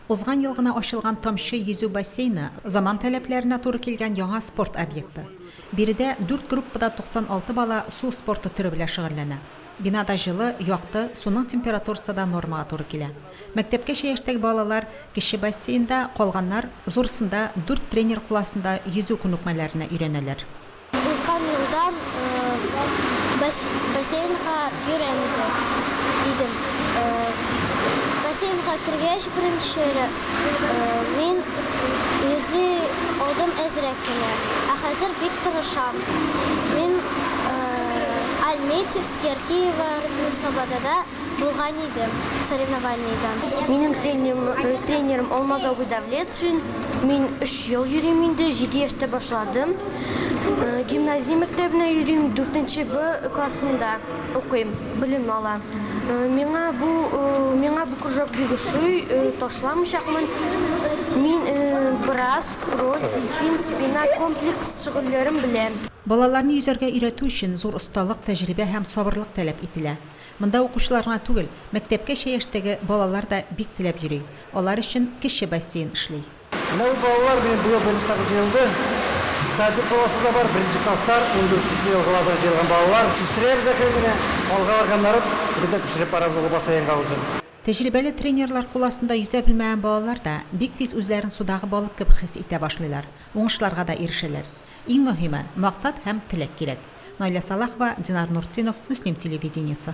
Узган ел гына ачылган Тамчы йөзү бассейны, заман таләпләренә туры килгән яңа спорт объекты. Биредә дүрт группада 96 бала су спорты төре белән шөгыльләнә. Бинада җылы, якты, суның температурасы да нормага туры килә. Мәктәпкәчә яшьтәге балалар, кече бассейнда, калганнар, зурсында, дүрт тренер кул астында йөзү күнекмәләренә өйрәнәләр. Узган елдан бассейнга өйрәнде идем. Бассейнга кергәч беренче раз мин йөзи алдым әзрәк кенә, ә хәзер бик тырышам. Мин Альметьевск, Яркиево, Рыбное Слободада Булган иде соревнованиедә. Минем тренерым Алмаз абый Давлетшин. Мин өч ел йөрим инде, җиде яшьтә башладым. Гимназия мәктәбенә йөрим, дүртенче Б классында укыйм, белем алам. Миңа бу миңа бу кружок бик ошый, ташламыйчакмын. Мин брас, скроль, дельфин, спина, комплекс шөгыльләрен беләм. Балаларны йөзәргә өйрәтү өчен зур осталык, тәҗрибә һәм сабырлык таләп ителә. Монда укучылар гына түгел, мәктәпкәчә яшьтәге балалар да бик теләп йөри. Алар өчен кече бассейн эшли. Менә бу балалар минем быел беренче тапкыр җыелды. Садик баласы да бар, беренче класстар, ундүрт кеше елгалардан җыелган балалар. Үстерәбез әкрен генә. Алга барганнары бер дә күчереп барабыз ул бассейнга уже. Тәҗрибәле тренерлар кул астында йөзә белмәгән балалар да бик тиз үзләрен судагы балык кебек хис итә башлыйлар, уңышларга да ирешәләр. Иң мөһиме, максат һәм теләк кирәк. Наилә Салахова, Динар Нуртдинов, Мөслим телевидениесе.